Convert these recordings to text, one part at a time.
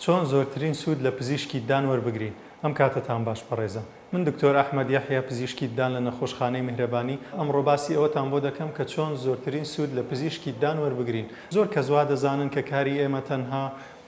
چۆن زۆرترین سوود لە پزیشکی ددان وەربگرین؟ ئەم کاتەتان باش بەڕێزان. من دکتۆر ئەحمەد یەحیا پزیشکی ددان لە نەخۆشخانەی میهرەبانی، ئەمڕۆ باسی ئەوەتان بۆ دەکەم کە چۆن زۆرترین سوود لە پزیشکی ددان وەربگرین. زۆر کەس وا دەزانن کە کاری ئێمە تەنها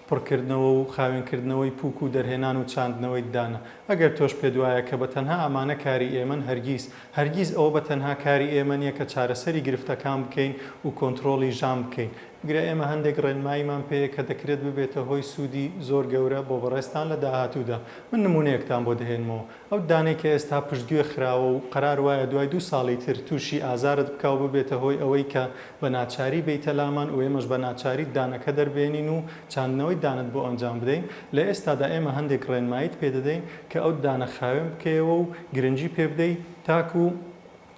پڕکردنەوە و خاوێنکردنەوەی پووک و دەرهێنان و چاندنەوەی ددانە. ئەگەر تۆش پێت وایە کە بە تەنها ئەمانە کاری ئێمەن، هەرگیز. هەرگیز ئەوە بە تەنها کاری ئێمە نییە کە چارەسەری گرفتەکان بکەین و کۆنترۆڵی ژان بکەین، بگرە ئێمە هەندێک ڕێنماییمان پێیە کە دەکرێت ببێتە هۆی سوودی زۆر گەورە بۆ بەڕێزتان لە داهاتوودا. من نموونەیەکتان بۆ دەهێنمەوە. ئەو ددانەی کە ئێستا پشتگوێ خراوە و قەرار وایە دوای دوو ساڵی تر تووشی ئازارت بکا و ببێتە هۆی ئەوەی کە بە ناچاری بێیتە لامان و ئێمەش بە ناچاری ددانەکە دەربێنین و چاندنەوەی ددانت بۆ ئەنجام بدەین، لە ئێستادا ئێمە هەندێک ڕێنماییت پێ دەدەین. کە ئەو ددانە خاوێن بکەیەوە و گرنگی پێ بدەی تاکو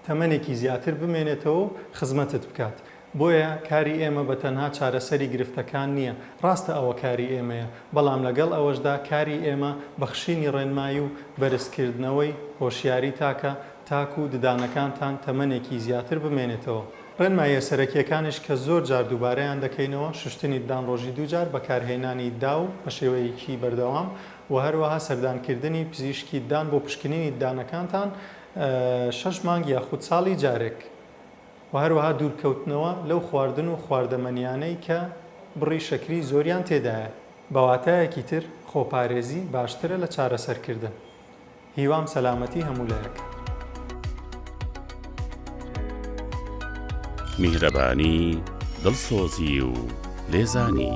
تەمەنێکی زیاتر بمێنێتەوە و خزمەتت بکات. بۆیە کاری ئێمە بە تەنها چارەسەری گرفتەکان نییە، ڕاستە ئەوە کاری ئێمەیە، بەڵام لەگەڵ ئەوەشدا کاری ئێمە بەخشینی ڕێنمایی و بەرزکردنەوەی هۆشیاری تاکە تاکو ددانەکانتان تەمەنێکی زیاتر بمێنێتەوە. ڕێنماییە سەرەکییەکانیش کە زۆر جار دووبارەیان دەکەینەوە، شوشتنی ددان ڕۆژی دوو جار، بەکارهێنانی داو بە شێوەیەکی بەردەوام، وە هەروەها سەردانکردنی پزیشکی دان بۆ پشکنینی دانەکانتان شەش مانگ یاخود ساڵی جارێک وە هەروەها دوورکەوتنەوە لەو خواردن و خواردەمەنیانەی کە بڕی شەکری زۆریان تێدایە. بە واتایەکی تر خۆپارێزی باشترە لە چارەسەرکردن. هیوام سەلامەتی هەموو لایەک. میهرەبانی، دڵسۆزی و لێزانی.